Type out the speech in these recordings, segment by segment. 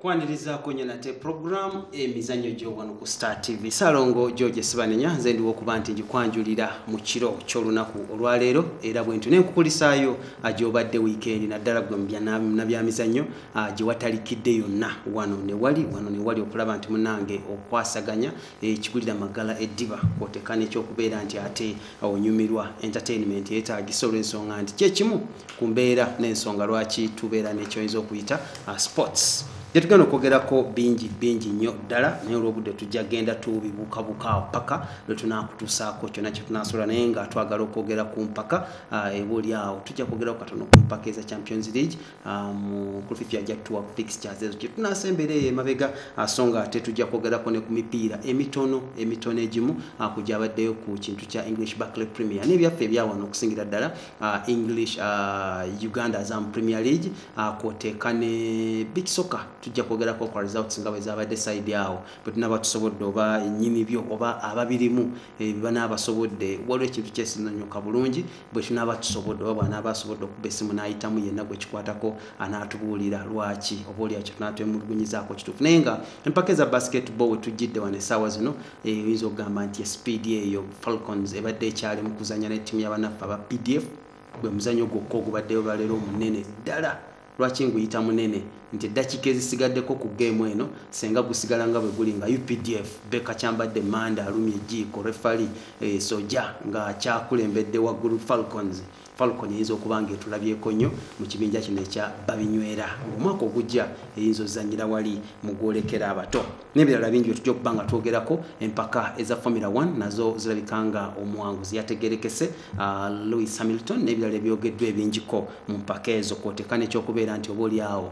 kwanirizaako nyo nate puroguramu emizannyo gyowano ku star tv salongo george sibanenya nze ndiwo okuba nti ngikwanjulira mu kiro ky'olunaku olwaleero era bwentu nenkukulisaayo agyobadde wiikendi naddala gwe nabyamizannyo Ah, gye watalikidde yonna wano newali wano newali okulaba nti munange okwasaganya ekigulira eh, magala eddiba kwoteka nekyokubeera nti ate onyumirwa entertainment yetagisa olwensonga nti kyekimu ku mbeera n'ensonga lwaki tubeera nekyoyinza okuyita ah, sports gyetugenda okwogerako bingi bingi nnyo ddala naye olwobudde tujja genda tubibukabuka mpaka lwetunakutusaako kyona kyetunasobola naye nga twagala okwogera ku mpaka ah, ebuli awo tujja kwogerako katono ku mpaka eza champions league mukulufi um, ffe ajja tuwa fixtures ezo kyetunaasa embeera eyo emabega ah, so nga ate tujja kwogerako ne ku mipiira emitono emitono egimu ah, ku gyabaddeyo ku kintu kya english backley premier nebyaffe ebyawano okusingira ddala ah, english uganda zam premier league kwoteeka ne big soka tujja kwogerako kwa results nga bwe zabadde side awo bwe tunaba tusobodde oba enyini byo oba ababirimu ebibana eh, abasobodde waliwo ekintu kyesinonyoka bulungi bwe tunaaba tusobodde oba bw'anaaba asobodde okuba essimu n'ayitamu yenna gwe kikwatako anaatubuulira lwaki oba olya kye tunaaba twemulugunyizaako kituufu naye nga empaka eza basketball we tujjidde wano essaawa zino eh, oyinza okugamba nti esipiidi eyo falcons ebadde ekyali mu kuzannya n'ettiimu y'abanaffe aba pdf gwe muzanyo gwokka ogubaddeyo lwaleero omunene ddala Lwaki nguyita munene nti eddakiika ezisigaddeko ku geemu eno ssenga gusigala nga bwe guli nga updf beka kyambadde manda alumya ejjiiko refali eh, soja nga kyakulembedde waggulu falcons falcon eyinza okuba nga etulabyeko nnyo mu kibinja kino ekya babinywera ng'omwaka ogujja eyinza ozanyira wali mu gwolekera abato nebirala bingi byetujja okuba nga twogerako empaka eza formula 1 nazo zirabika nga omuwanguzi yategerekese uh, louis hamilton nebirala ebyogeddwa ebingiko mu mpaka ezo kwoteka nekyokubeera nti oba olyawo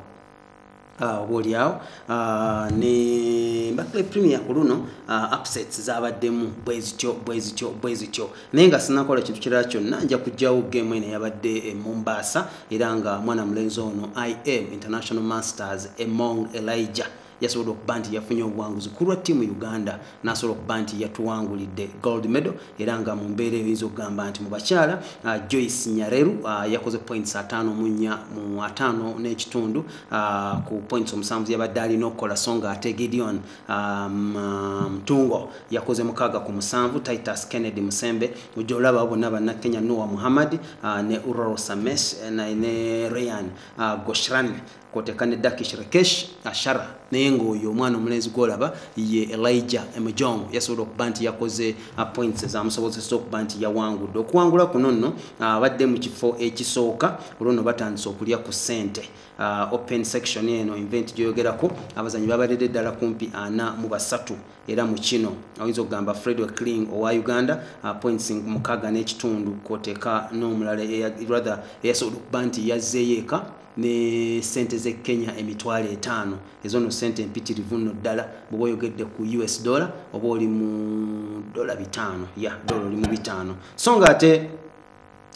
Ah, oba olyawo ah, ne mbakle premier ku luno ah, upsets zabaddemu bwezityo bwezityo bwezityo naye nga sinakola kintu kirala kyonna nja kujjawo game eno yabadde e mombasa era nga mwana mulenzi ono im international masters emong elijah yasobodde okuba nti yafunye obuwanguzi ku lwa ttiimu uganda n'asobola okuba nti yatuwangulidde gold medal era nga mu mbeera eyo yinza okugamba nti mu bakyala uh, joyce nyareru uh, yakoze points ataano mu nnya mu ataano n'ekitundu uh, ku points omusanvu yabadde alina okukola so nga ate gideon um, uh, mtungo um, yakoze mukaaga ku musanvu titus kennedy musembe ojja olaba bonna banna kenya noa muhammad uh, ne uroro sames uh, ne rayan uh, goshran kwoteka ne dakish rekesh ashara naye ngaoyo omwana omulenzi gwolaba ye elija emujong yasobola okuba nti yakoze uh, points ezamusobozesa okuba nti yawangudde okuwangula kuno nno uh, abadde mu kifo ekisooka olwono batandise okulya ku sente uh, open section eno invent gyoyogerako abazanyi babalede ddala kumpi ana mu basatu era mu kino oyinza okugamba fred wecling owa uganda points mukaga n'ekitundu kwoteka n'omulala rather eyasobola okuba nti yazzeeyo eka ne sente ze kenya emitwalo etaano ezo no sente empitirivu nno ddala bwoba oyogedde ku us dollar oba oli mu dola bitaano ya dola oli mu bitaano so nga ate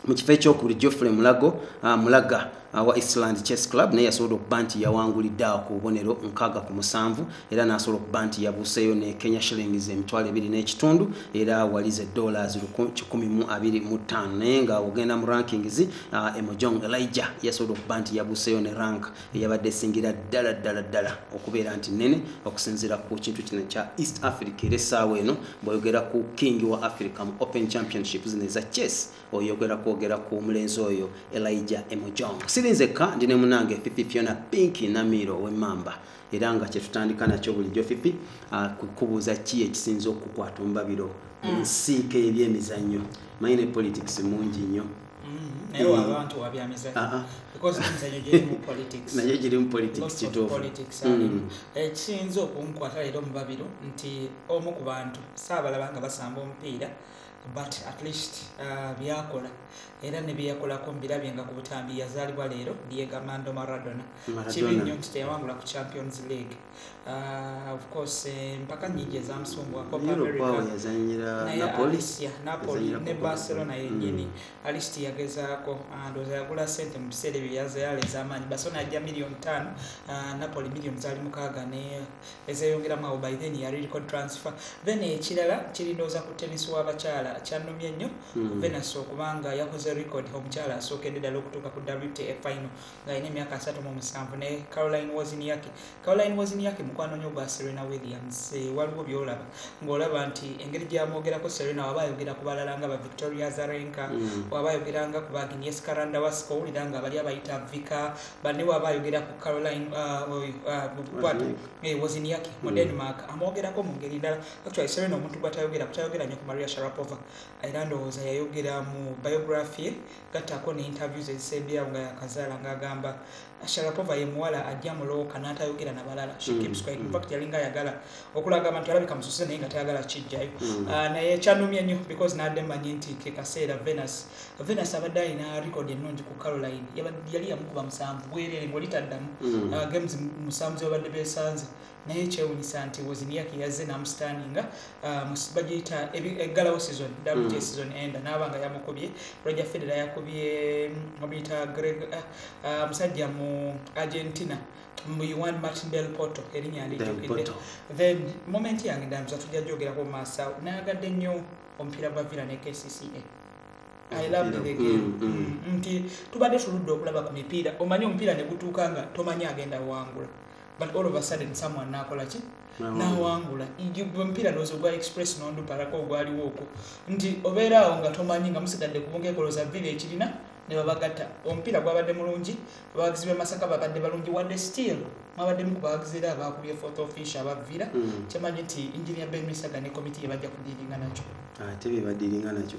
mu kifo ekyokubiri geoffrey mulago uh, mulaga wa Island Chess Club naye yasobola okuba nti yawangulidde awo ku bubonero nkaaga ku musanvu era n'asobola okuba nti yabuuseeyo ne Kenya Shillings emitwalo ebiri n'ekitundu era walize dollars kikumi mu abiri mu ttaano naye nga ogenda mu rankings uh, ah, emojong elijah yasobola okuba nti yaguseyo ne rank eyabadde esingira ddala ddala ddala okubeera nti nene okusinziira ku kintu kino kya east africa era essaawa eno bweyogera ku king wa africa mu open championship zino eza chess oyogera kwogera ku omulenzi oyo elijah emojong sirinzekka ndi ne munange fifi fiona pinki namiiro owemamba era nga kyetutandika nakyo bulijjo fifi ah, kukubuuza ki ekisinza okukwata omubabiro mm. nsiika ebyemizannyo maine politics mungi nnyo naye giri mu politics kituufuekiyinza eh, okunkwata leero omubabiro nti omu ku bantu saabalaba nga basamba omupiira but at least uh, byakola era nebyeyakolako mubirabye nga ku butambi yazaalibwa leero diega mando maradona kibi nnyo nti teyawangula ku champions league Uh, of course eh, mpaka nyingi ezamusumbuwa ne barcelona yenyini mm. alist yagezaako ah, ndoza yagula sente mu biseera ebyo yazayala ezamaanyi barcelona yajja million tano ah, napoli million zali mukaaga ne ezeyongeramu awo by then yali record transfer then ekirala kirindooza ku tennis w'abakyala kyanumye nnyo mm. venus okubanga yakoze record omukyala asookedde ddala okutuuka ku wta final ng'alina emyaka asatu mu musanvu ne caroline woziniaki caroline woziniaki mukwano nyo gwa serena williams eh, waliwo byolaba ng'olaba nti engeri gyamwogerako serena waba ayogera ku balala nga ba victoria zarenka mm. waba ayogera nga ku baginies karanda wasika owulira nga bali abayita vika banne waba ayogera ku caroline uh, uh, eh, woziniaki mu mm. denmark amwogerako mu ngeri ndala actually serena omuntu gwatayogera kutayogera nyo ku maria sharapova era ndowooza yayogera mu biography Gattako ne interview ze zisembyeawo nga yakazaala nga agamba Sharapova ye muwala ajja mu looka n'atayogera na balala she mm, keeps quiet in mm. fact yalinga ayagala okulaga abantu alabika mususe naye nga tayagala kijjayo mm. ah, naye kyanumye nnyo because nadde mmanyi nti ke kaseera venus venus abadde alina record ennungi ku caroline yali yamukuba musanvu bwerere ngoli taddamu ah, games musanvu zebabadde besanze naye kyewunyisa nti wozimiyaki yazze namusitaninga um, bagiyita eggalawo season wta mm. season enda naaba nga yamukubye roger federa yakubye mubiyita mm, greg uh, uh, musajja mu argentina muiwan martin del porto erinya alijukidde then moment yange ndambiza tujja jogerako mumaaso awo nayagadde nnyo omupiira gwa villa ne kcca I love the game. Mm, mm. mm, nti tubadde tuludde okulaba ku mipiira omanyi omupiira ne gutuuka nga tomanyi agenda wangula but all of a sudden someone nakola ki nawangula mpira lozo gwa express nondu parako ogwaliwo okwo nti obeeraawo nga tomanyi nga musigadde kubungekoloza vile ekirina ne babagatta omupiira gwabadde mulungi abawagizi b'e masaka babadde balungi wadde still mwabaddemu ku bawagizi era abaakubye fourth offish abavira mm. kyemanyi nti enginia ben misaga ne komiti ye bajja kudiiringa nakyo ate bebadiiringa nakyo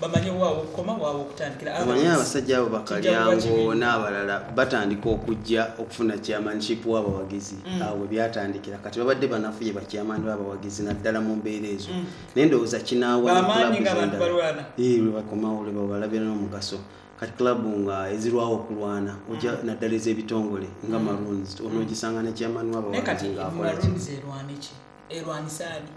bamanye wa wokukoma wa wokutandikira amanye abasajja abo bakalyango n'abalala batandika okujja okufuna chairmanship w'abawagizi mm. awo byatandikira kati babadde banafuye bakyamani b'abawagizi naddala mu mbeera ezo mm. naye ndowooza kinaawabakomawo lwe babalabira n'omugaso kati club nga ezirwawo okulwana oja mm. naddala ez'ebitongole nga maroons onogisanga ne chairman w'abawagizi ng'akolaki erwanisaani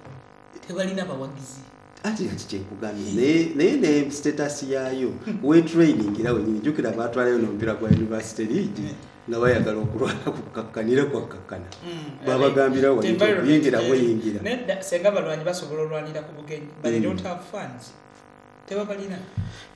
tebalina bawagizi anti kati kyekugambye naye ne status yaayo wetraining era wenyini jukira baatwalayo nomupiira gwa university league nga bayagala okulwana kukakkanire kwakkakkana mm. babagambira wayingira bweyingira senga balwanyi basobola olwanira ku bugenyi but they mm. don't have funds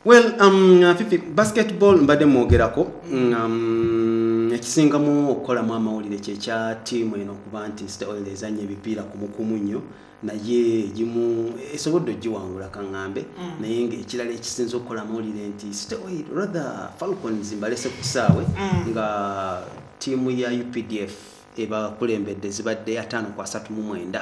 well um, uh, fifi basketball mbadde mwogerako mm. um, ekisingamu okukolamu amawulire kyekya tiimu eno okuba nti stoil ezanya ebipiira kumukumu nnyo naye gimu esobodde ogiwangula kaŋŋambe mm. naye ngaekirala ekisinza okukola amawulire nti stoil rather falcons mbalese ku kisaawe mm. nga tiimu ya updf ebakulembedde zibadde ataano ku asatu mu mwenda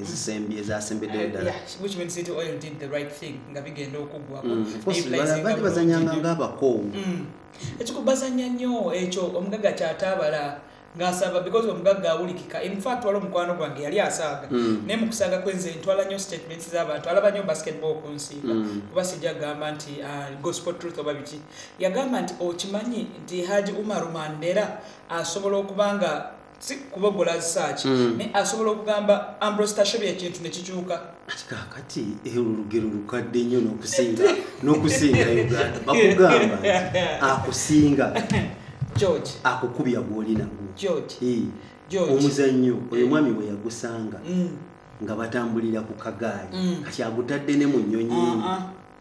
ezisembye ezasembeddeyo uh, ddala nga bigenda okuggwakobaali mm, bazanyanga ngaabakoowu mm. ekiko bazanya nnyo ekyo omugaga kyataabala ngasaba because omugagga awulikika infact wali omukwano gwange yali asaaga mm. naye mukusaaga kwenze ntwala nnyo statements zabantu alaba nnyo basketball okunsiiga kuba sijja gamba nti uh, gospel truth oba biki yagamba nti okimanyi nti haji umaru mandera asobola okuba nga si kubogola zisaaki mm. naye asobola okugamba ambrostashobi ekintu nekikyuka ati kakati eh, olugero lukadde nnyo nokusinga nokusinga uganda bakugamba akusinga george akukubya gwolina george eh, omuzannyo oyo mwami we yagusanga mm. nga batambulira ku kagaali mm. kati agutadde ne mu nnyonyi ah, ah.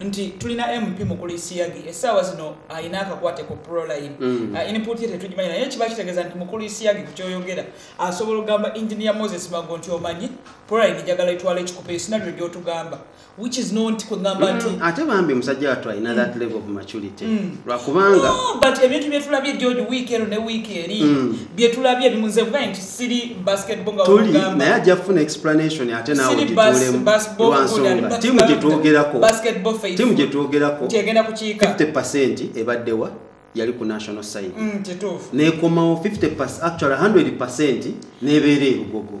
nti tulina mp mukulu isiyagi essaawa zino alina akakwate ku proline mm. uh, input ye tetugimanya naye kiba kitegeeza nti mukulu isiyagi ku kyoyogera asobola okugamba engineer moses mago nti omanyi proline njagala etwala ekikupa esinabyo gyotugamba which is not kugamba nti mm, ate bambi musajja watu alina mm. that level of maturity mm. lwakubanga no, but ebintu byetulabye george week ero ne week eri mm. byetulabye bimunze kuba nti siri basketball nga tuli naye ajja kufuna explanation ate nawe gitulemu lwansonga timu gyetwogerako timu gyetwogerako 50 ebaddewa yali ku national side mm, nekomawo 50 actually 100 percent nebeera erugogo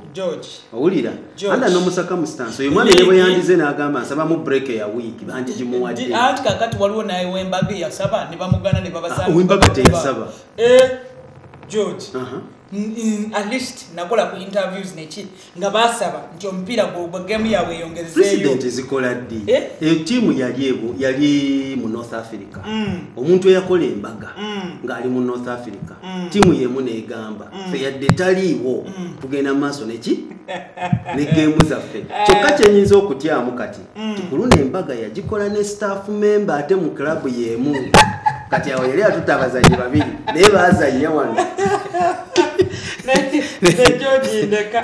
owulira anda nomusaka mustansi oyo mwana yebwe yandize nagamba nsaba mu break ya wiiki bangi gimuwadde anti kakati waliwo naye wembaga eyasaba nebamugana nebabasawembaga teyasaba eh, george uh -huh. at least nakola ku interviews neki nga basaba nti omupiira gwogwa gemu yabwe eyongezeyopresident zikola ddi eh? eh, tiimu yali ebo yali mu north africa mm. omuntu eyakola embaga mm. ng'ali mu north africa mm. tiimu yemu negamba fe yadde taliiwo tugenda mu maaso neki ne gemu zaffe kyokka kyenyinza okutyamu kati mm. tukuluna embaga yagikola ne staff member ate mu club yemu kati awo yali atuta abazanyi babiri naye bazanya wano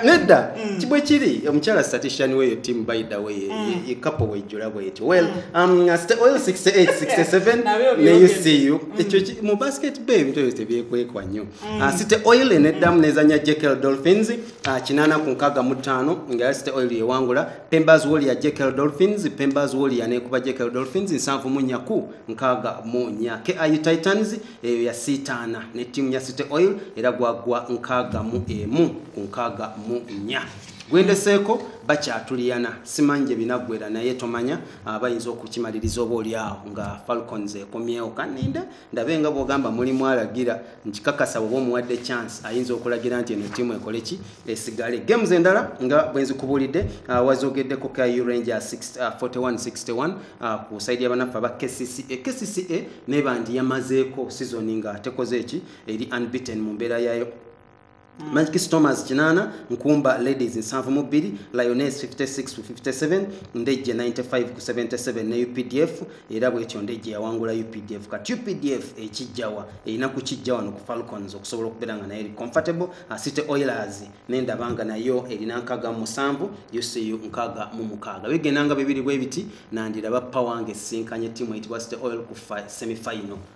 nedda mm. kibwe kiri omukyala statistician weyo team by the way mm. ye couple wejjula bwetyo well mm. um oil 68 67 ne you see you ekyo mu basket bay ebintu ebyo tebyekwekwa nnyo uh, site oil eneddamu nezanya jekel dolphins uh, kinana ku nkaga mu ttaano nga site oil yewangula Pemba's Warrior JKL Dolphins, Pemba's Warrior nekuba JKL Dolphins nsanvu mu nnya ku nkaaga mu nnya. KIU Titans eyo yasiitaana ne ttiimu ya City Oil era gwagwa nkaaga mu emu ku nkaaga mu nnya. Gwendeseeko bakyatuliyana simanyi gye binaggwera naye tomanya ah, bayinza okukimaliriza oba oli awo nga Falcons ekomyewo kaninde ndabe nga bwogamba mulimu alagira nkikakasa oba omuwadde chance ayinza okulagira nti eno tiimu ekole ki esigale games endala nga bwenzikubuulidde uh, wazogeddeko ku uranger 4161 uh, uh, ku saidi yabanaffe aba kcca kcca nebandi yamazeeko sizoni nga tekoze eki eri unbeaten mu mbeera yayo Mm. Magic Stormers kinana, Nkumba Ladies nsanvu mu bbiri, Lioness 56 ku 57, Ndejje 95 ku 77 ne UPDF era bwetyo Ndejje yawangula UPDF. Kati UPDF ekijjawa erina kukijja wano ku Falcons okusobola okubeera nga nayo eri comfortable. City Oilers n'endaba nga nayo erina nkaga mu musanvu, UCU nkaga mu mukaaga. Bigenda nga bibiri bwe biti nandiraba ppa wange sinkanye ttiimu eyitibwa City Oil ku semi final.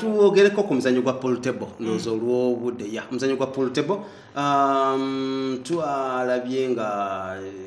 tuwogereko ku muzanyo gwa pool table mm. ndowooza olw'obudde ya omuzanyo gwa pool table um, twalabye nga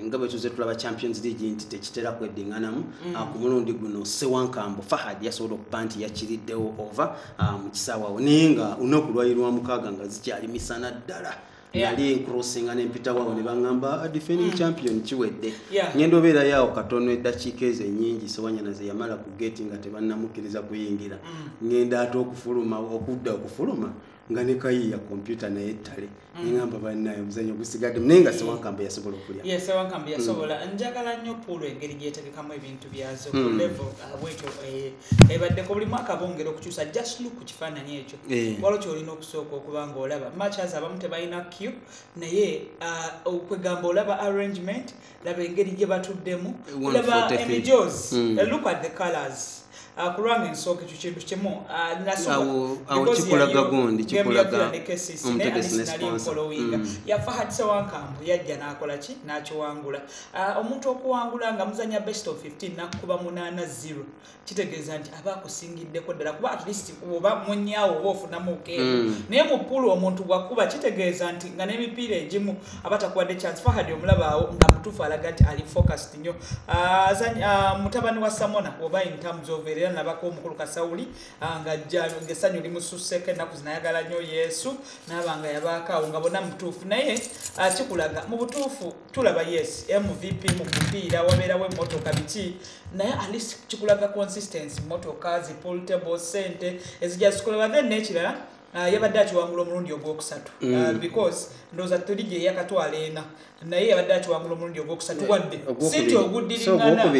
nga bwe tuze tulaba champions league nti tekitera kweddinganamu mm. ah, ku mulundi guno sewankambo fahad yasobola okuba nti yakiriddewo ova ah, mu kisaawawo naye nga unaku lwali lwa mukaaga nga zikyali misana ddala nali nkrosinga nempita wawo nebangamba ah, defending mm. champion kiwedde ngenda obeera yawo katono eddakiika ezo enyingi sewanyana zeyamala ku geti nga tebanamukkiriza kuyingira mm. ngenda ate okufuluma okudda okufuluma nga nekayiya kompyuta naye ettale mm. nengamba banaye omuzanyo gusigadde naye nga sewankambe yasobola okulya ye sewankambe yasobola njagala nnyo puulu engeri gyetegekamu ebintu byazo ku level uh, wekyo eh, ebaddeko buli mwaka bongera okukyusa just look ku kifaananyi ekyo eh. walo kyolina okusooka okuba nga olaba machas abamu tebalina q naye uh, okwegamba olaba arrangement laba engeri gye batuddemu laba emijos hmm. eh, look at the colors uh, kulwanga ensooka ekyo kintu kimu uh, nasokikulaga gundi kikulaganekesisinalinkolowinga yafa hadisa wankambu yajja nakola ki nakiwangula Ah, omuntu okuwangula nga muzanya best of 15 nakukuba munana zero kitegeeza nti aba akusingiddeko ddala kuba at least oba munyawo oba ofunamu okeeo mm. naye mupulu omuntu gwakuba kitegeeza nti nga n'emipiira egimu aba takuwadde chance fahadi omulabaawo nga mutuufu alaga nti ali focused nnyo ah, ah, mutabani wa samona oba intamuzi ovaera era nabako omukulu kasawuli nga ngesanyu limususeko ennaku zinayagala nnyo yesu naaba nga yabaakaawo nga bona mutuufu naye kikulaga mu butuufu tulaba yes mvp mu mupiira wabeerawo emmotoka biki naye alist kikulaga consistency motoka zipultable sente ezija zikoleba then nekirala uh, yabadde akiwangula omulundi ogwokusatu uh, mm. uh, because ndooza tuli gye yakatwala ena naye yabadde akiwangula omulundi ogwokusatu eh, wadde sinti oguddiringana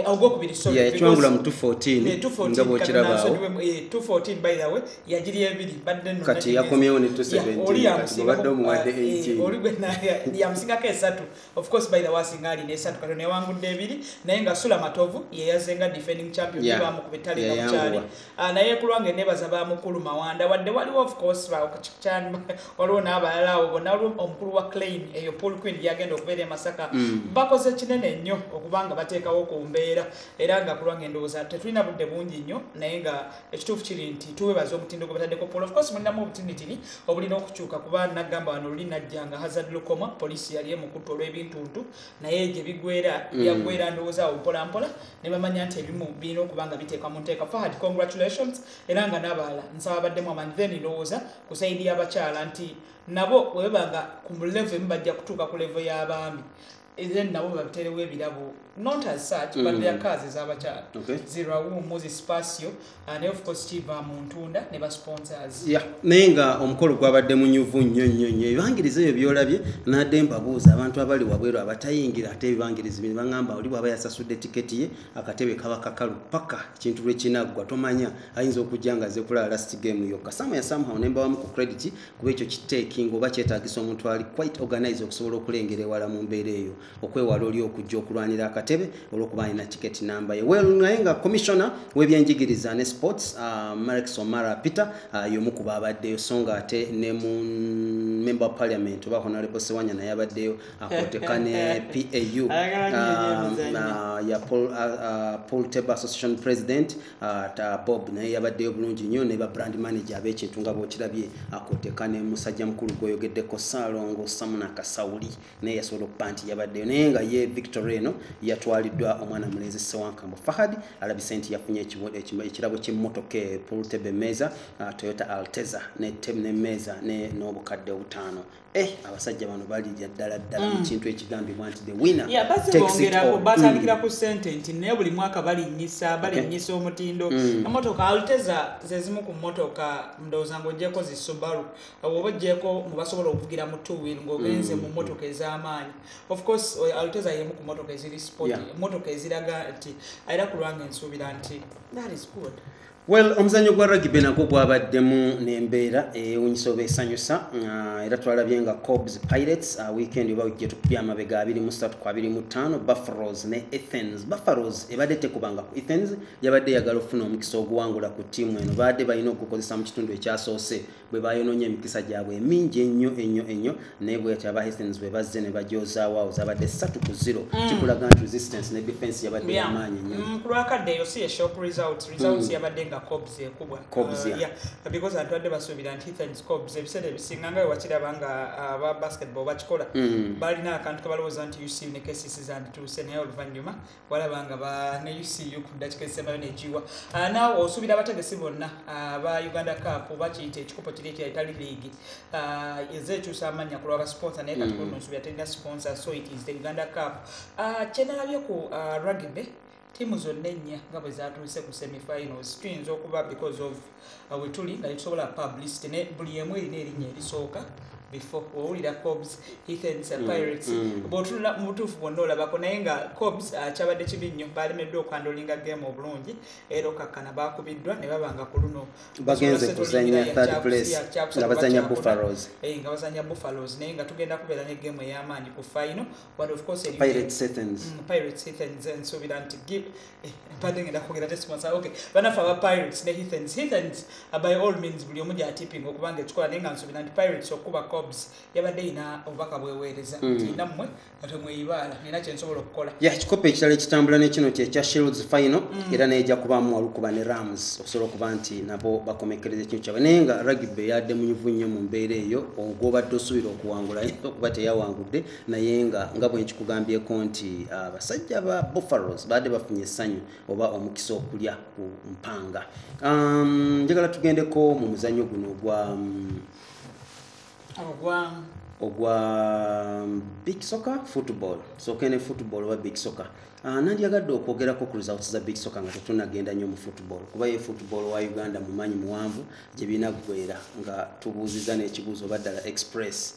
ogwokubiri eh, sorry 214 eh, by the way yagiri ebiri badde no kati yakomyewo ne 270 badde omuwadde 18 eh, oli gwe na yamusingako esatu of course by the was ngali ne esatu kati ne wangu de ebiri naye nga sula matovu ye yazenga defending champion yeah. ba mu kubitali yeah, na kuchali uh, ah, naye kulwange ne baza ba mukulu mawanda wadde wali of course ba okuchani waliwo na abalala obo na waliwo omukulu wa claim eyo pool queen yagenda okubera emasaka mm. bakoze kinene nnyo okubanga bateekawo ku mbeera era nga kulwange ndowooza tetulina budde bungi nnyo naye nga ekituufu kiri nti tuwebaza omutindo gwe bataddeko polo ofcourse mulinamu obutinitini obulina okukyuka kuba nagamba wano luli najja nga hazard lukoma poliisi yali emukuttu olw'ebintuntu naye gye bigwera mm. byagwera ndowooza awo mpolampola ne bamanya nti ebimu birina okuba nga biteekwa mu nteeka fahad congratulations era nga n'abalala nsaba baddemu amani then ndowooza ku saidi y'abakyala nti nabo webebanga ku mulevo emu bajja kutuuka ku levo y'abaami then nabo baterewo ebirabo not as such mm. but their cars ezabakyala okay. zirawu muzi spasio uh, naye ofcourse kiva mu ntunda ne basponsors yeah. naye nga omukolo gwabadde munyuvu nnyo nnyo nnyo ebibangiriza ebyo byolabye nadde mbabuuza abantu abali wabweru abatayingira ate ebibangirizi bino baŋamba oli bwaba yasasudde tiketi ye akatebe kaba kakalu paka ekintu lwekinaggwa tomanya ayinza okujja nga aze kulaba last game yokka samu yasamhaw nembawamu ku credit kuba ekyo kiteekinga oba kyetagisa omuntu ali quite organize okusobola okulengera ewala mu mbeera eyo okwewala oli okujja okulwanira akatebe olwokuba alina ticket namba ye well naye nga commissioner webyenjigiriza ne sports uh, ah, marex omara peter uh, yomu ku baabaddeyo so nga ate ne mu member of parliament oba honorable sewanya naye abaddeyo akoteka ne pau uh, uh, ya paul, uh, uh, paul table association president Ah, ta bob naye yabaddeyo bulungi nnyo ne ba brand manager ab'ekintu nga bwokirabye akoteka ne musajja mukulu gweyogeddeko saalongo samuna kasawuli naye yasobola okuba nti yabaddeyo naye nga ye victor eno yatwaliddwa omwana mulenzi sewankambo fahad alabise nti yafunye ekirabo ky'emmotoka e pultebe meeza ah, toyota alteza nemeeza n'obukadde obutaano Eh, abasajja bano balirya ddala ddala mm. ekintu ekigambibwa nti the winner yeah, mm. batandikira ku sente nti naye buli mwaka balinyisa balinyisa okay. omutindo mm. emotoka alteza zezimu ku motoka ndowooza nga ojeko zi subaru oba ojeko mubasobola okuvugira mu two wheel ngaogenze mm. mu motoka ez'amaanyi of course alteza yemu ku motoka eziri sport yeah. motoka eziraga nti era kulwanga ensuubira nti that is good well omuzanyo gwa ragibe nagwo gwabaddemu nembeera ewunyisa oba esanyusa ah, era twalabye nga cobs pirates ah, weekend oba wiki gyetupya amabega 23 ku 25 bufferos ne athens bufferos ebadde tekubanga ku athens yabadde eyagala okufuna omukisa oguwangula ku tiimu eno baadde balina okugukozesa mu kitundu ekyasoose bwe bayonoonye emikisa gyabwe emingi ennyo ennyo ennyo naye bweyati aba hastings bwe bazze ne bajozaawo awo zabadde satu ku zero mm. kikulaga nti resistance ne defense yabadde yamaanyi nnyo mm, ku lwakadde eyo si eshop results results mm. yabadde nga cobs ekubwa cobs uh, ya because abantu badde basuubira nti hastings cobs ebiseera ebisinga nga wewakiraba nga uh, aba basketball bakikola balina akantu kebalowooza nti uc ne kcc zandituuse naye oluvannyuma walaba nga bane ucu ku ddakiika ezisembayo negiwa ah, naawe osuubira abategesi bonna ah, ba uganda cup bakiyita ekikopo kiri ekira etali leagi ah, eza ekyusa amannya ku lwaba sponsor naye kati mm. nsuubira terina sponsor so it is the uganda cup kyenalabye ku rugby tiimu zonna ennya nga bwe zatuuse ku semifinals tuyinza okuba because of uh, wetuli nga tetusobola publicity ne buli emu erina erinnya erisooka before owulira cobs ethens mm, pirates mm. bwotunula mu butuufu bwonna olabako naye nga cobs uh, kyabadde kibi nnyo baalemeddwa okwandolinga game obulungi era okakkana baakubiddwa ne baba nga ku luno bagenze kuzanya third place nga bazanya buffalos eh, nga bazanya buffalos naye nga tugenda kubeera ne game ey'amaanyi ku final but of course pirates ethens mm, pirates ethens nsuubira nti mbadde ngenda kwogera tesponsa ok banafe aba pirates ne hithens hithens by all means buli omu gyatipping okuba nga ekikola naye nga nsuubira nti pirates okukuba cobs yabadde yina obubaka bweweereza mm. nti nammwe nga temweyibaala nina kyensobola okukola ya kikopo ekirala ekitambula nekino kyekya shields final mm. era naye ejja kubaamu walukuba ne rams okusobola okuba nti nabo bakomekkereza ekintu kyabwe naye nga rugby yadde munyuvu nnyo mu mbeera eyo ogwobadde osuubira okuwangula okuba teyawangudde naye nga nga bwe nkikugambyeko nti abasajja ah, ba buffalos baadde bafunye essanyu oba omukisa okulya ku mpanga um, njagala tugendeko mu muzannyo guno ogwa mm, ogwa ogwa mm, big soccer football sokene football oba big soccer Ah, nandyagadde okwogerako ku results za big soka nga tetunagenda nnyo mu football kuba ye football wa uganda mumanyi muwanvu gye binaggwera nga tubuuziza n'ekibuuzo oba ddala express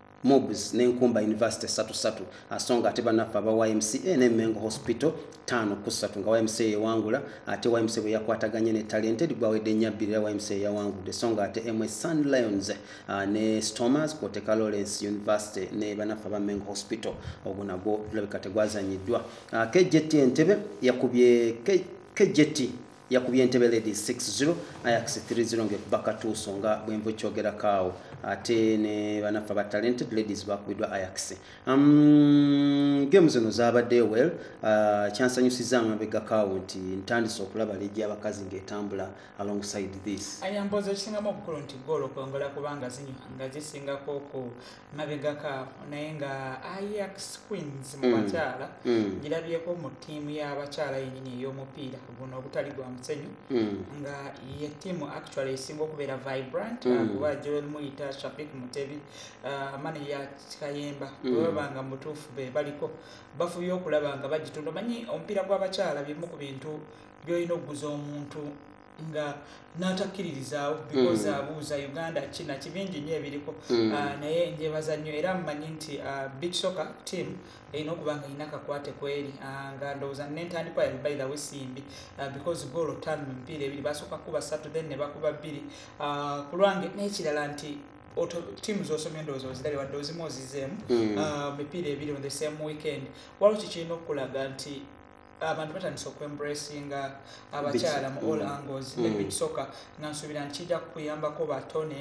mobs ne nkumba university satu satu asonga ate banaffe aba ymca ne mengo hospital tano kusatu nga ymca yewangula ate ymca bwe yakwataganye ne talented gwawedde nyabbiri era ymca yawangudde songa ate mwe sun lions uh, ne stomers kwoteka lawrence university ne banaffe aba mengo hospital ogwo nagwo tulabika tegwazanyiddwa uh, ah, kjt entebe yakubye kjt yakubye entebe ladies 60 ayax 30 ngekuba katuuso nga bwenva ekyogerakaawo ate ne banaffe aba talented ladies bakubidwa ayax um, game zino zabadde well uh, kyansanyusiza amabegakaawo nti ntandise okulaba legi abakazi ngaetambula alongside this ayamboza ekisingamu obukulu nti goolo kwongola kubanga zinywa nga zisingako ku mabegako awo naye nga iax queens mu mm. bakyala mm. girabyeko mu ttiimu y'abakyala yenyini ey'omupiira guno ogutali gwa musenyu mm. nga ye ttiimu actually esinga okubeera vibrant kuba joel muyita shafik mutebi uh, mane ya kayemba bwebaba nga mutuufu be baliko bafubye okulaba nga bagitunda omanyi omupiira gw'abakyala bimu ku bintu byolina okuguza omuntu nga n'atakkiririzaawo mm. because abuuza uh, uganda kina kibingi nnyo ebiriko mm. uh, naye njebaza nnyo era mumanyi nti uh, big soccer team erina okuba nga erina kakwate kweri nga ndowooza nentandikwa yali by the way simbi because goolo ttaano mu mipiira ebiri basooka kuba ssatu then ne bakuba bbiri ku lwange n'ekirala nti tiimu zosomye ndowooza ozirabye wadde ozimu ozizeemu mm. mipiira ebiri on the same weekend waliwo kikirina okukulaga nti abantu batandise okuembracinga abakyala mu all mm. angles mm. nebisoka nga nsuubira nti kijja kukuyambako batone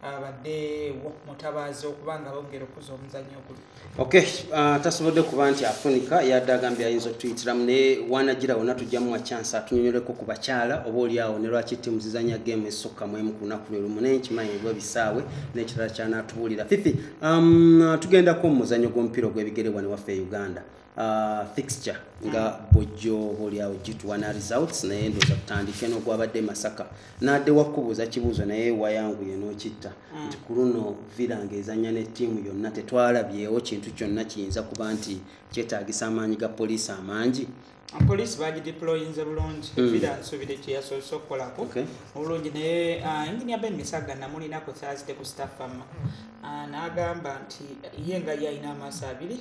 abadeewo mutabaazi okuba nga bongera okuza omuzanyo oguli ok uh, tasobodde kuba nti afunika yadde agambye ayinza okutuyitiramu naye wanagira wona tujjamu wachanse atunyonyoleko ku bakyala oba oliawo ne lwaki timu zizanya game esukka mu emu ku lunaku lwe lumu naye nkimanyi ebwa ebisaawe n'ekirala kyanaatubuulira fifi um, tugendako mu muzanyo gw'omupiira ogw'ebigere wano waffe e uganda Uh, fixture nga mm. bwojjo obaolyawo gitwana results naye ndoza kutandike nogwabadde masaka nadde wakubuuza kibuuzo naye wayangu yenokitta mm. nti ku luno villa nga ezanya ne tiimu yonna tetwalabyewo kintu kyonna kiyinza kuba nti kyetagisa amaanyi ga poliisi amangi poliisi bagideployinze bulungi mm. villa nsubire kyeyasoose okukolako obulungi naye uh, enginia ben misaga namulina ku thursday ku staffama uh, nagamba nti ye nga yalina amaaso abiri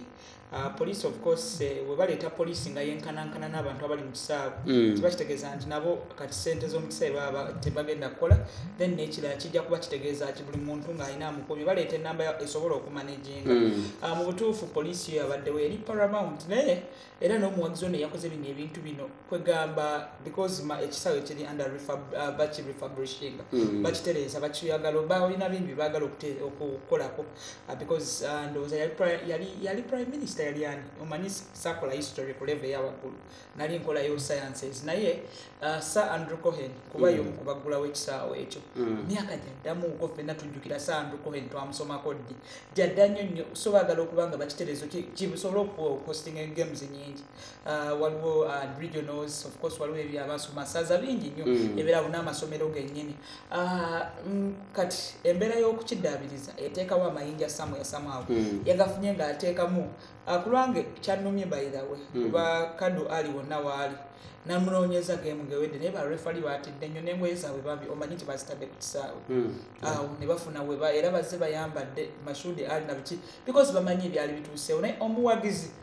Ah, police of course eh, webaleeta police nga yenkanankana n'abantu abali mu kisaawe mm. kiba kitegeeza nti nabo kati sente z'omukisaawe baba tebagenda kukola then nekirala kijja kuba kitegeeza ki buli muntu ng'alina amukuumi baleeta enamba esobola okumanaginga mm. ah, mu butuufu police yo yabaddewo eri paramount naye era n'omuwagizi ono eyakoze bino ebintu bino kwegamba because ekisaawe kiri under ah, baki refabrishing mm. bakitereeza bakiyagala oba olina bimbi bagala okukolako uh, because uh, ndowooza yali, yali, yali prime minister yali ani omanyi sakola history ku level eyawaggulu nali nkolayo sciences naye uh, sir andrew cohen kuba mm. yomu kubaggulawo ekisaawo ekyo mm. myaka mm. gyaddamu uko fenna tujjukira sir andrew cohen twamusomako ddi gyadda nnyo nnyo so baagala okuba nga bakiterezo kibusobola okukostinga games nyingi Uh, waliwo uh, regionals of course waliwo ebyo abasoma saza bingi nnyo mm. ebeera wona amasomero gennyini uh, mm, kati embeera y'okukiddaabiriza eteekawo amayinja samu yasamwawo mm. yagafunye ng'ateekamu kulwange kyannumye by the way kuba kadu ali wonna waali namunoonyeza gemu ngewedde naye barefali batidde nnyo nengoye zaabwe bambi omanyi nti bazitadde ku kisaawe hmm. awo ne bafuna weba era bazze bayambadde mashudi ali nabiki because bamanyi ebyali bituuseewo naye omuwagizi mm.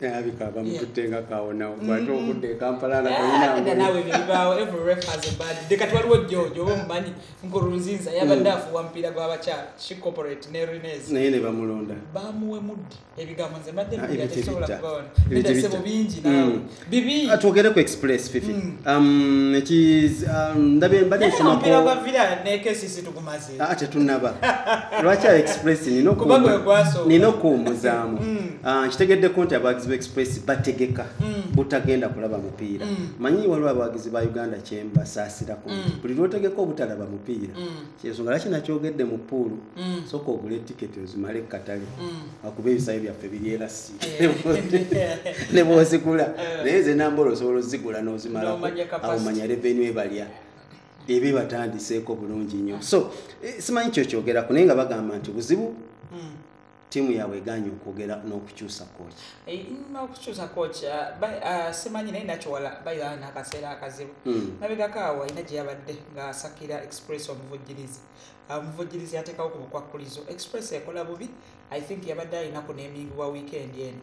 alabika bamututte nga kawonawo mm-hmm. bwate okudda ekampala nga toyinakati waliwo jojo oba omumanyi nkurunziza yabadde mm. afuwa mupiira gwabakyala shicorporate ne renes naye ne bamulonda bamuwe muddi ebigambo nze mbaddeebisobola ah, kubawanasebo bingi mm. nawe bibi ah, twogere ku express fifi mm. um, um, ndabye mbadde nsomako Ah, tetunaba lwaki a express nina okuwummuzaamu mm. ah, nkitegeddeko nti abawagizi ba express bategeka mm. butagenda kulaba mupiira mm. manyi waliwo abawagizi ba uganda kyembasaasirako buli lwotegeka obutalaba mupiira kyensonga laki nakyogedde mu puulu soka ogula etiketi ozimale katale akuba ebisayo byaffe biryerasi eh. nebwozigula eh. naye nze nambola osobola ozigula nozimala awo manya revenu ebalya ebe batandiseeko bulungi nnyo so eh, simanyi kyokyogerako naye nga bagamba nti buzibu hmm. tiimu yaabwe eganye okwogera n'okukyusa koki eh, n'okukyusa koki ah, ah, simanyi naye nakiwala bayana nakaseera akazibu hmm. nabegako awo alina gye yabadde ng'asakira express omuvujjirizi ah, omuvujjirizi yateekawo ku bukwakkulizo express ekola bubi i think yabadde alinako n'emingibwa wiikendi eno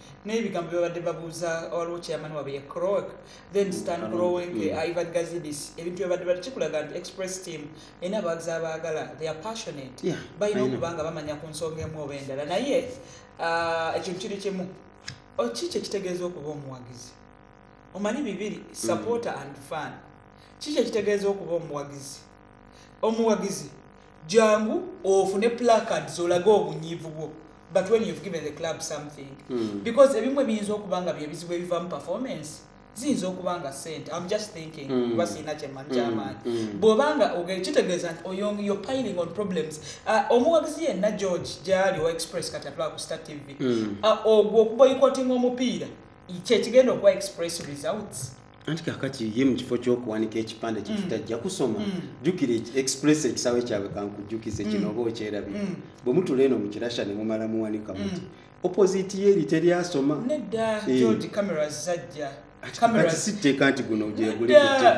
naye bigambo byabadde babuuza waliwo chairman wabwe ye croak then mm, stan growing mm. uh, ivan gazidis ebintu byabadde bali kikulaga nti express team ena abawagizi abaagala they are passionate balina okuba nga bamanya ku nsonga emu oba endala naye uh, ekintu kiri kimu oh, ki kyekitegeeza okuba omuwagizi omanyi bibiri mm. supporter and fan ki kyekitegeeza okuba omuwagizi omuwagizi jangu ofune placards olage obunyiivu bwo but when you've given the club something mm. because ebimwe biyinza okuba nga byebizibu ebivamu performance ziyinza okuba nga sente am just thinking mm. kuba mm. sirina kyemani kyamaanyi mm. mm. bw'oba nga ogere kitegeeza nti oyong yo piling on problems uh, omuwagizi yenna george gyali owa express kati atulaba ku star tv mm. uh, ogwo okuboyikotinga omupiira kyekigenda okuba express results anti kakati ye mu kifo ky'okuwanika ekipande kye mm. kitajja kusoma mm. jjukira express ekisaawe kyabwe kankujjukize kino mm. oba okyerabira bwe mutula eno mu kirasha ne mumala muwanika muti opposite ye eri teri asoma nedda eh. george camera zajja sitteeka nti guno gyeguliogwa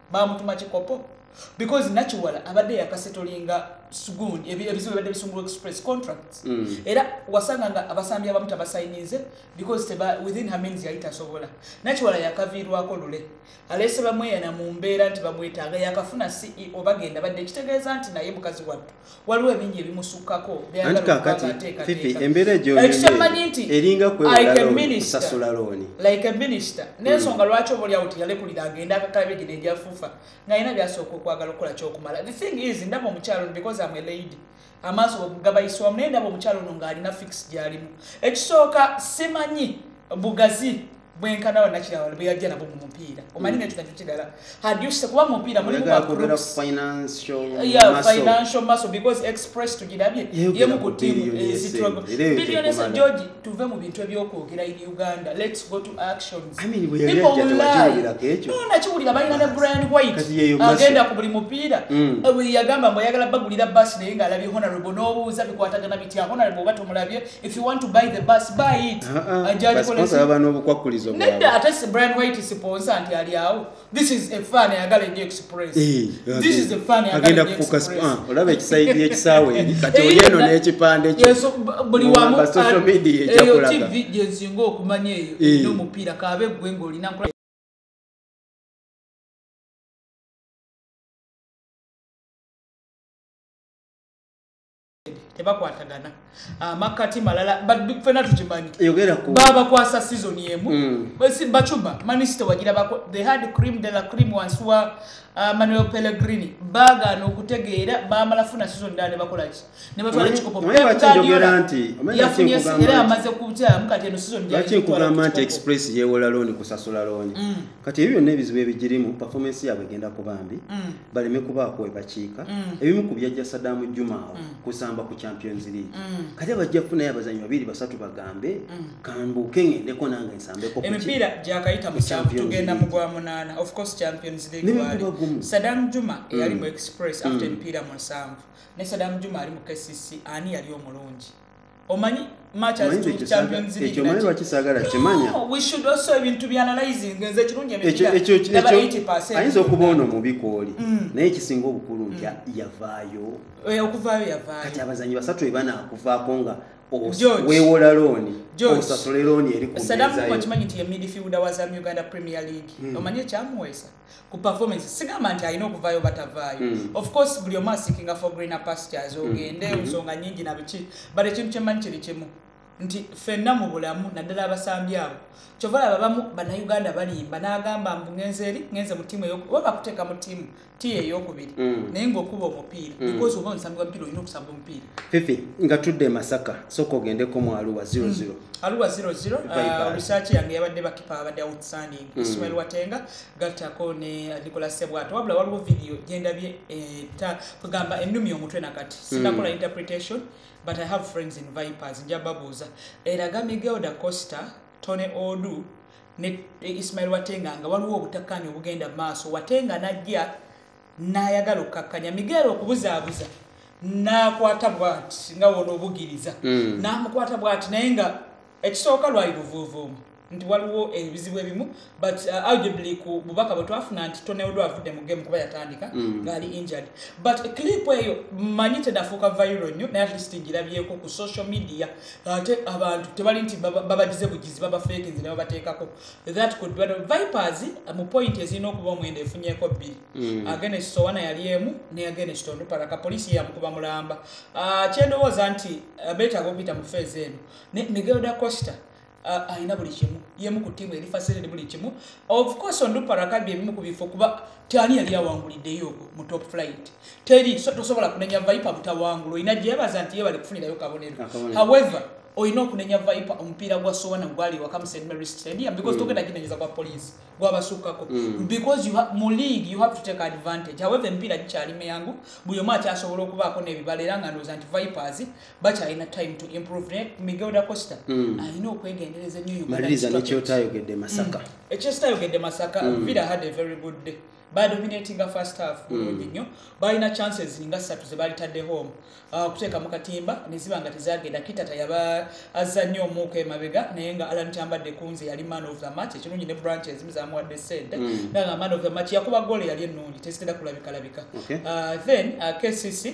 bamutuma kikopo because nakiwala abadde yakasetolinga sgun ebizibu ebadde bisumbuwa express contracts mm. era wasanga nga abasambi abamu tabasayinize because teba within her means yali tasobola nakiwala yakaviirwako lule aleese bamweyana mu mbeera nti bamwetaaga yakafuna ceo bagenda badde ekitegeeza nti naye mukazi wattu waliwo ebingi ebimusukkako anti kakati fifi embeera egyoekyemanyi nti eringa kweosasula looni like a minister hmm. nensonga lwaki oba olyawo tiyalekulira agenda akakalabe gino egyafufa ngaalina byasooka okwagala okukola kyokumala the thing is ndaba omukyalo because am a lady amaaso gabayiswamu naye ndaba omukyalo ono ng'alina fix gyalimu ekisooka simanyi bugazi bwenkana banakirawal bweyajja nabo mumupiira omanyi nekyo nakyo kirala haduse kuba mumupiira mulimufinancial muscle because express tugirabye yemu ku timu ezitrogo billionesa georgi tuve mu bintu ebyokwogera in uganda lets go to actions nakiwulira balina ne brian white agenda ku buli mupiira mm. eh, yagamba mbu ayagala bagulira basi naye ngaalabye honorable n'obuuza bikwatagana bitya honorable oba tomulabye if you want to buy the bus buy it uh-uh. ajakolesaba n'obukwakulizo nedda ate si brian white siponsa nti ali awo this is a fan ayagala enyo express this is a fan agenda kufuka ah, olaba ekisaidi ekisaawe eri kati oli eno n'ekipande kyo buli wamu social media ekyakulaga eyo tv gyensinga okumanya eyo n'omupiira kaabe gwe ng'olina nkola tebakwatagana amakkati ah, malala fena tukimanyi babakwasa season emu mm. bacuba manisite wagirabako the had cream de la cream wansi wa ah, manuel pellegrini bagaana okutegeera bamala funa season ddala ne bakolaki ne batwala ekikopoyafunye era amaze kukyamu kati eno seasonakigamba nti express yewola looni kusasula looni mm. kati ebyo byonna ebizibu ebigirimu performance yaabwe egenda kubambi mm. baleme kubaako we bakiika mm. ebimu ku byajja sadaamu juma awo mm. kusamba ku champions league mm. kati abajja kufunayo abazanyi babiri basatu bagambe kambuuke ŋendeko nange nsambekooemipiira gyakayita mutugenda mugwa munaana ofcourse champions league wali sadaamu juma eyali mu express after emipiira musanvu ne sadaamu juma ali mu kcc ani yali omulungi omanyi ekyo omanyi lwaki saagala kimanya ayinza okuba ono mubi kwoli mm. naye ekisinga obukulu nti mm. yavaayo eh, kati abazanyi basatu ebanakuvaako nga wewola looni osasule looni eri kukimanyi nti yemidifiuda wa zamu uganda premier league hmm. omanyi ekyamuweesa ku performance sigamba nti alina okuvaayo batavaayo mm. of course buli omu asikinga for greener pastures hmm. ogende mm. nsonga nyingi na biki but ekintu kyemanyi kiri kimu nti fenna mu bulamu naddala abasambi abo kyova laba bamu bannayuganda balimba n'agamba mbu ngenze eri ngenze mu tiimu oba bakuteeka mu tiimu tiimu eyokubiri mm. naye ngaokuba omupiira mm. because oba omusambi wa mupiira olina okusamba omupiira fifi nga tudde emasaka sooka ogendeko mu aluwa 00 mm. aluwa 00 uh, research yange yabadde bakipa abadde outstanding hmm. ismail watenga gattako ne nikola sebwato wabula waliwo vidiyo gyendabye eta eh, kugamba ennumi omutwe nakati hmm. sinakola interpretation but i have friends in vipers nja babuuza eraga miguel da costa tony odu ne eh, ismail watenga nga waliwo obutakkaanya obugenda maaso watenga najja n'ayagala okukkakkanya miguel okubuzaabuza n'akwata bwati nga wona obugiriza hmm. n'amukwata bwati naye nga Ekisooka lwali luvuuvuumo nti waliwo ebizibu ebimu but uh, arguably ku bubaka bwe twafuna nti toneodwa avudde mu game kuba yatandika mm. ngaali mm. injured but clip eyo manyi tenafuuka viral nnyo naye atleast ngirabyeko ku social media ate abantu tebali nti babagize bugizi babafeekinzi ne babateekako that could be vipers uh, mu point ezirina okuba omwenda efunyeko bbiri mm. agene kisowana yali emu neyagene kitondu paraka poliisi yeyamukuba mulamba uh, kyendowooza nti uh, betaaga okuyita mu feezi eno ne miguel da costa uh, alina buli kimu yemu ku tiimu eri fasiliti buli kimu of course onduparakabi ebimu ku bifo kuba tani yali awanguliddeyo ogwo mu top flight teri so, tosobola kunenya vipa butawangula olina gyebaza nti ye bali kufunirayo kabonero however olina okunenya vipa omupiira gwa sowana gwali waka mu st mary stadium because mm. togenda ginenyeza kwa poliisi gwabasukkako mm. because you mu league you have to take advantage however emipiira gikyali miyangu buli omu akyasobola okubaako n'ebibala era nga ndooza nti vipers bakyalina time to improve naye miguelda costa mm. alina okwegendereza nyomaliriza nekyotayogedde masaka mm. ekyositayogedde masaka mm. villa had a very good day badominatinga first half mm. bulungi nnyo balina chances nga ssatu zebalitadde home uh, okuteeka mu katimba neziba nga tezagenda kitata yaba azza nnyo omuuka emabega naye nga alan kyambadde kunze yali man of the match ekirungi ne branch ezimu zamuwadde sente nga man of the match yakuba goolo yali ennungi tezitera kulabikalabika uh, then uh, kcc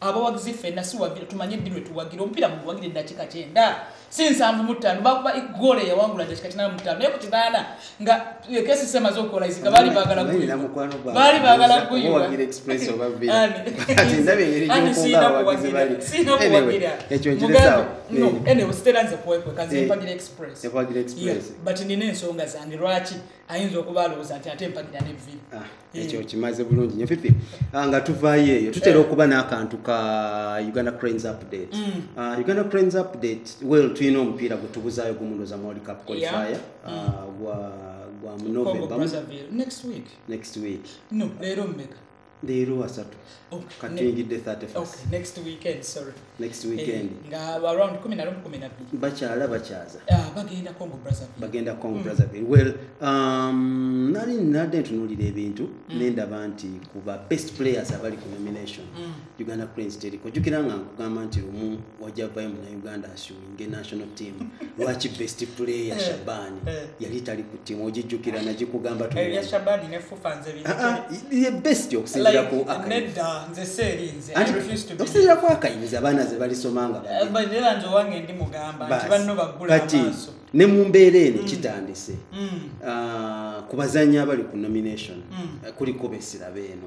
abawagizi ffenna siwagira tumanye ddi lwetuwagira omupiira muguwagira eddakiika kyenda si nsanvu mu ttaano bakuba egoolo eyawangula dakiika kinaana mu ttaano naye ku kinaana nga ekesi semaze okukola iziga baali baagala baali baagala guyuaekyokiteranze kuwekwekazempagira express but nina ensonga zange lwaki ayinza okuba alowooza nti ate mpagira ne vvi ah, eh. ekyo kimaze bulungi nyo fifi ah, nga tuvaayo eyo tutera eh. okuba n'akantu ka uganda cranes update mm. ah, uganda cranes update well tulina omupiira gwe tubuzaayo gumuloza mwoli cup qualifier mm. gwa gwa munovemba next week next week no leero mmeka leero asatu oh, katuyingidde 31bakyala eh, bakyaza ah, bagenda congo brazzaville mm. well um, nali nadde ntunulira ebintu mm. nendaba nti kuba best players abali ku nomination mm. uganda cranes teriko jukira nga nkugamba nti lumu wajavayo munauganda asio nge national team lwaki best player eh, shaban eh. yali tali ku timu ogijjukira nagikugamba eh, ah, ah, best okusinzira ku okusinzira ku akayinza abaana ze balisoma nga kati ne mu mbeera eno mm. kitandise mm. Ah, ku bazanyi abali ku nomination mm. kuliko besirabe eno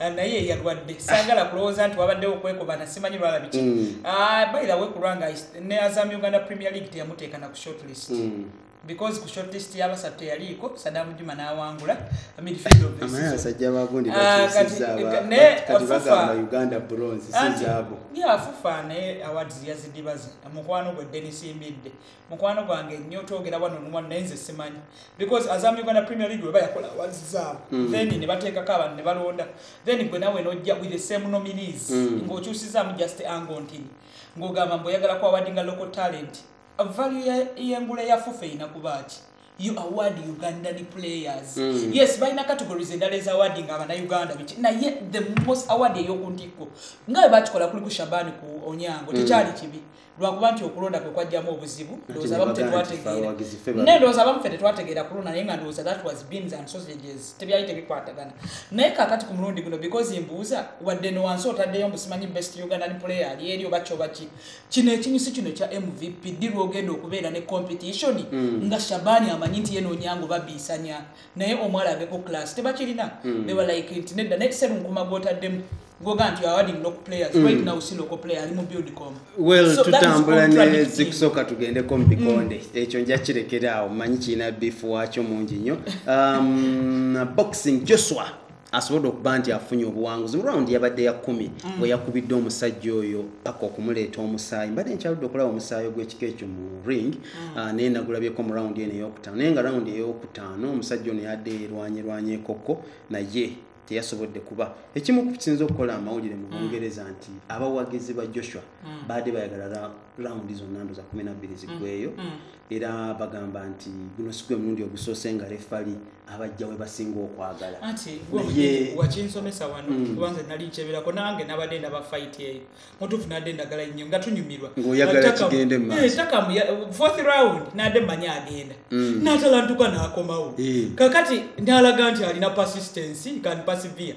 Ah, naye eyalwadde sagala kulowooza nti wabaddewo okwekobana simanyi lwala biki hmm. ah, bairawe kulwanga ne azam uganda premier league teyamuteeka na ku shortlist hmm. because ku shortlist yabasatu teyaliiko sadamu juma nawangula midfieldofuganda bronze sizaabo ah, eh, yafufa naye awards yazidibaze mukwano gwe denis mbidde mukwano gwange nnyo twogera wano nuwano naye nze simanyi because azamu uganda premier league weba yakola awazi zaabo mm. then ne bateekako abantu ne balonda then gwe nawe nojja with the same nominees mm. ng'okyusizaamu just ango ntini ng'ogamba mbu oyagala kwawadinga local talent value y'engula ya fufa erina kuba ki you award ugandan players mm. yes balina categories endala eza awarding abanauganda biki naye the most award eyokuntikko nga webakikola kuli ku shabani ku onyango mm. tekyali kibi lwakuba nti okulonda kwe kwajjamu obuzibu ndowooza abamu tetwategeera naye ndowooza abamu fe tetwategeera kulonda naye nga ndowooza that was beans and sausages tebyali tebikwatagana naye kakati ku mulundi guno because mbuuza wadde no wansi otaddeyo mbusimanyi best ugandan player ali eri oba kyoba ki kino ekinyusi kino kya mvp ddi lwogenda okubeera ne competition mm. nga shabani amanyi nti yenoonyangu babiisanya naye omwala aveko class tebakirina mm. bewalayike nti nedda naye serunkuma gwotaddemu goga nti awading local players mm. right now si local player ali mu buildcom well so tutambula ne zikusooka tugendeko mu bikonde mm. ekyo nja kirekeraawo manyi kirina bifu wakyo mungi nnyo um, boxing joshua asobodde okuba nti afunye obuwanguzi mu rawundi yabadde ya kumi mm. bwe yakubidde omusajja oyo paka okumuleeta omusaayi mbadde nkyaludde okulaba omusaayi ogw'ekika ekyo mu ring mm. ah, naye nagulabyeko mu rawundi eno eyokutaano naye nga rawundi eyokutaano omusajja ono yadde erwanyerwanya ekokko naye teyasobodde kuba ekimu kukisinza okukola amawulire mu mm. bungereza nti abawagizi ba joshua baadde bayagala rawundi zonna ndo za kumi nabbiri ziggweyo era bagamba nti guno si gwe mulundi ogusoose nga refali abajja we basinga okwagala wakinsomesa wano mm. kubanze nali nkyebirako nange nabadde ndaba fight eyo mutuufu nadde ndagala nnyo nga tunyumirwa ng'oyagalatakamu eh, fourth round nadde manyi agenda mm. natalantuka nakomawo eh. kakati nalaga nti alina persistency kan persevere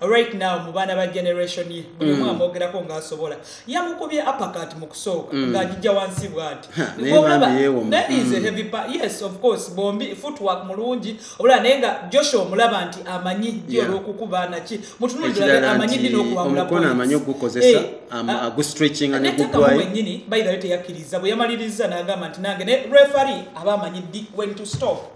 right now mu baana ba generation ye buli omu mm. amwogerako ng'asobola yamukubye apakat mu kusooka mm. ng'agijja wansi bwati mm. yes of course bombi footwork mulungi obula naye nga joshua omulaba nti amanyi gi olw'okukuba naki mutunulirabe amanyi dina okuwabulamukono amanyi okugukozesa eh, ah, agustretchinga negugwayo wenyini bayirayo teyakkiriza bwe yamaliriza n'agamba nti nange ne refari aba amanyi ddi when to stop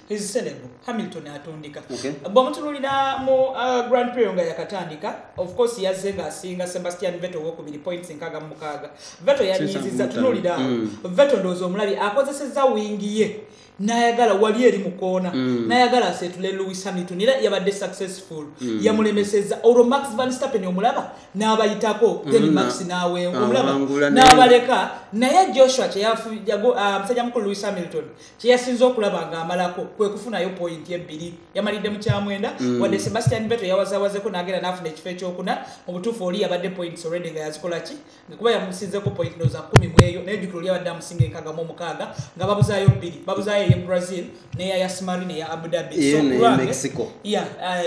He's celeb. Hamilton atundika. Okay. Bwamutululira mu uh, Grand Prix nga yakatandika. Of course yazze nga asinga Sebastian Vettel wokubiri points nkaga mu mukaaga. Vettel yanyiziza tunulira. Mm. Vettel ndozo omulabi akozesezza wingi ye. nayagala wali eri mukoona mm. nayagala asetule Lewis Hamilton era yabadde successful mm. yamulemeseza olwo Max Verstappen omulaba nabayitako mm. then mm. Max nawe ah, omulaba nabaleka naye Joshua kyeyafu yago uh, ah, msaja mkulu Lewis Hamilton kyeyasinze okulaba ng'amalako kwe kufunayo poyinti ebbiri yamalidde mu kyamwenda mm. wadde sebastian beto yawazawazeko n'agenda n'afuna ekifo ekyokuna mu butuufu oli yabadde poyinti olwedde nga yazikola ki kuba yamusinzeko poyinti noza kumi mweyo naye jukira oli yabadde amusinga enkagamu omukaaga nga babuzaayo bbiri babuzaayo eye brazil neya ya smari neya abudabi eh,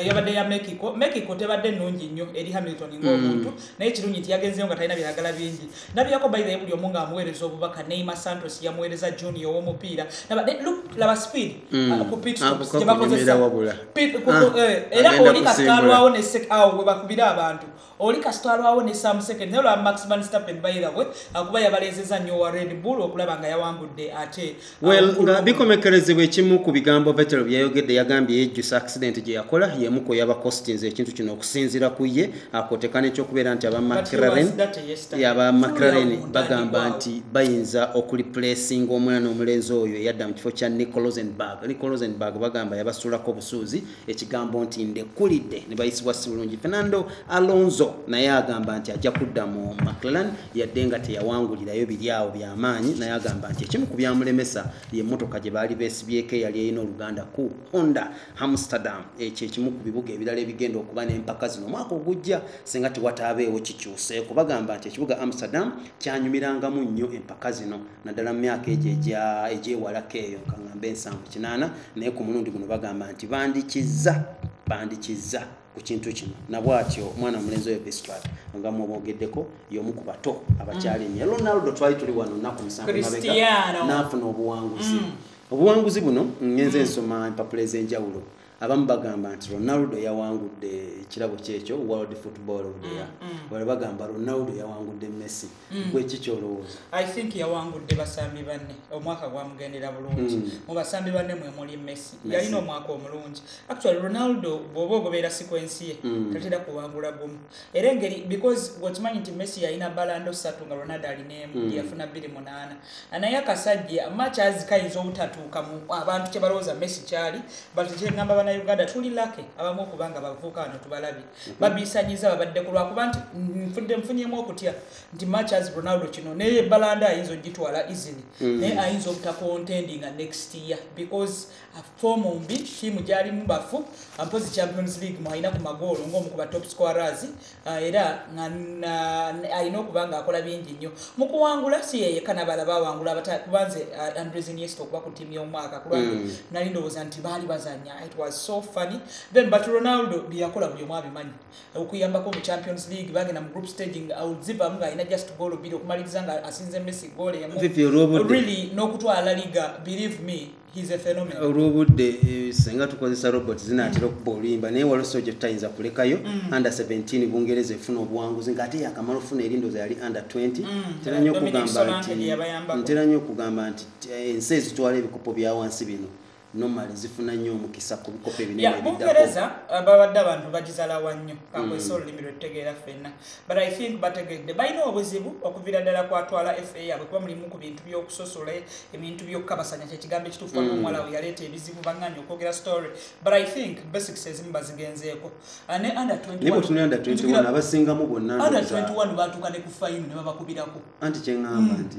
yabadde ya mexico mexico tebadde nnungi nnyo eri hamilton ng'omuntu mm. naye kirungi nti yagenzeyo nga talina byagala bingi nabirako by the buli omu nga amuweereza obubaka neima santos yamuweereza junior owomupiira laba speed mm. uh, kupitstopsgyebakozesaera ah, uh, oli kasitwalwawo awo webakubira abantu oli kasitwalwawo ne sam second naye olwa maxman stapen bayirawe akuba uh, yabalezeza nnyo wa red bull okulaba nga yawangudde ate well nga bikomekerezebwa ekimu ku bigambo vetero byeyayogedde yagambye yejjusa accident gye yakola yemu ku yaba costinze ekintu kino okusinzira ku ye akoteka n'ekyokubeera nti aba macraren yaba macraren bagamba nti bayinza okuliplacinga omwana omulenzi oyo eyadda mu kifo kya nicolosenberg nicolosenberg bagamba yabasulako obusuuzi ekigambo nti ndekulidde ne bayisibwa si bulungi fernando alonso naye agamba nti ajja kudda mu maclan yadde nga teyawangulirayo biri awo byamaanyi naye agamba nti ekimu ku byamulemesa ye mmotoka gye baali beesibyeko eyali erina oluganda ku honda amsterdam ekyo ekimu ku bibuga ebirala ebigenda okuba n'empaka zino omwaka ogujja singa tewataabeewo kikyuseeko bagamba nti ekibuga amsterdam kyanyumirangamu nnyo empaka zino naddala mu myaka egyo egyewalako eyo kaŋambe ensanvu kinaana naye ku mulundi guno bagamba nti bandikizza bandikizza ku kintu kino nabwatyo omwana mulenzi oyo bestwat nga mwobogeddeko yomu ku bato abakyali mm. nyo ronaldo twali tuli wano nnaku musanvu mabega naafuna obuwanguzi mm. obuwanguzi buno ngenze mm. nsoma empapula ez'enjawulo abamu bagamba nti ronaldo yawangudde ekirabo kyekyo world football of the year mm, mm. wala bagamba ronaldo yawangudde messi mm. gwe ki kyolowooza i think yawangudde basambi banne omwaka gwamugendera bulungi mm. mu basambi banne mwe muli messi yalina omwaka omulungi actually ronaldo bwoba ogobeera sikwensi ye mm. tatera kuwangula gumu era engeri because wekimanyi nti messi yalina balando satu nga ronaldo alineemu mm. yafuna bbiri munaana anaye akasajja machazi kayinza obutatuuka mu abantu kyebalowooza messi kyali but kyengamba bana uganda tuli lake abamu okuba nga bavuuka wano tubalabye mm-hmm. babisanyiza babadde ku lwakuba nti nfudde nfunyemu okutya nti machazi ronaldo kino naye balando ayinza ogitwala easily mm. naye ayinza obutakontendinga next year because foomu mbi ttiimu gyalimu bafu mpozi champions league mwalina ku magoolo ng'omu ku batop squarers ah, era alina okuba ng'akola bingi nnyo mu kuwangula si yeyeka nabala bawangula kubanze ah, andres iniesta okuba ku ttiimu y'omwaka kulwange mm. nali ndowooza nti baali bazanya it was so funny then but ronaldo byeyakola buli omu abimanyi okuyambako mu champions league bagenda mu group staging auzivamu ng'alina just goolo bbiri okumaliriza nga asinze messi goolo emu really n'okutwala liga believe me olwobudde eh, singa tukozesa robot zinatera okuba oluyimba naye waliwo soja tutayinza kulekayo mm. under 17 bungereza efuna obuwanguzi nga ate yakamala ofuna erindoza yali under 20 mm. ntera nyo okugamba nti eh, ensi ezitwala ebikopo byawansi bino normal zifuna nnyo omukisa ku bikopo ebinene ebiddakomungereza uh, babadde abantu bagizalawa nnyo kankwesa mm. olulimi lwetutegeera ffenna but i think bategedde balina obuzibu okuvira ddala kwatwala fa yabwe kuba mulimu ku bintu byokusosola ebintu byokukabasanya kyekigambo ekituufu mm. omuwala we yaleeta ebizibu banganya okwogera story but i think basics ezimu bazigenzeeko ah, ne under 21 abasingamu bonna under 21 batuuka ne ku fayini ne babakubirako anti kyeŋamba mm. nti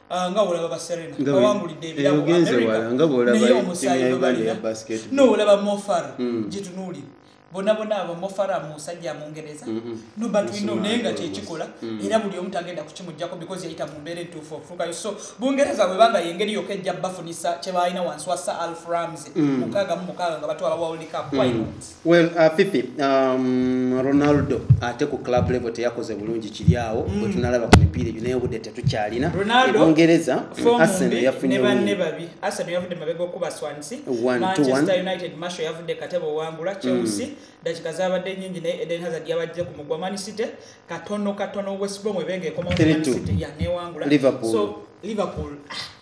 Ah, nga olaba baserena bawangulidde ebiramunaye omusaayi gwebalina noolaba mofar hmm. gitunuulire bona bona abo mofara musajja mungereza mm-hmm. nobatwino naye nga kyekikola mm. era buli omu tagenda kukimujjako because yayita mu mbeera entuufu ofuukayo so bungereza bwebanga yengeri yoka ejja bafunisa kyebalina wansi wa sir alf ramsey mm. mukaaga mu mukaaga nga batwala world cup mm. Well, uh, Fifi, um, Ronaldo ate ku club level teyakoze bulungi kiri awo mm. bwetunalaba ku mipiira egyo naye obudde tetukyalina ebungereza arsenal yafunye banne babi arsenal yavudde mabega okuba swansi manchester united masho yavudde katebe owangula mm. chelsea dakika mm. zabadde nyingi naye eden hazard yabadde ku mugwa man city katono katono west brom ebenga ekoma man city yanewangula liverpool so liverpool ah.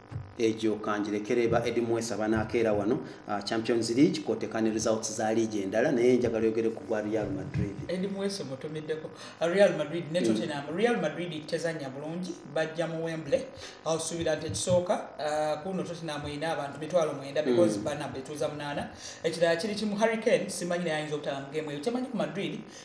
egyo kangirekere ba edi mwesa banakeera wano uh, champions league koteka ne results za league endala naye njagala yogere ku gwa real madrid edi mwesa mutumiddeko uh, real madrid ne mm. tottenham mm. real madrid tezanya bulungi bajja mu wembley awusuubira nti ekisooka uh, kuno tottenham erina abantu mitwalo mwenda because mm. bana betuuza munaana ekirala kiri kimu hurricane simanyi naye ayinza obutala mu game eyo kyemanyi ku madrid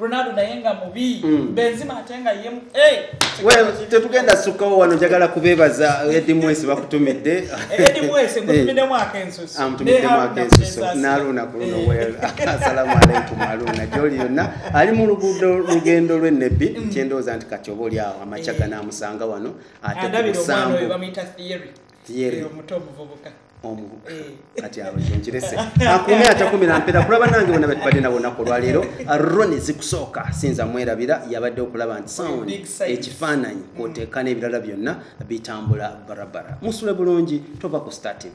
Ronaldo naye nga mubi mm. Benzema ate nga ye hey, well tetugenda sukawo wano njagala kubebaza Eddie Mwese bakutumidde eh, Eddie Mwese eh. mutumidde mwaka ensusu am ah, tumidde mwaka ensusu naluna kuluno eh. well assalamu alaykum aluna joli yonna ali mu luguudo lugendo lwe nebbi mm. kyendooza nti kati oba oli awo amacaga namusanga wano ate ku musango theory omuto omuvubuka kati awo nkirese akuume atakumira mpera kulaba nange bona betubadde nabo naku olwaleero roni zikusooka sinza mwerabira yabadde okulaba nti sound ekifaananyi kwoteeka n'ebirala byonna bitambula barabara musule bulungi tova ku star tv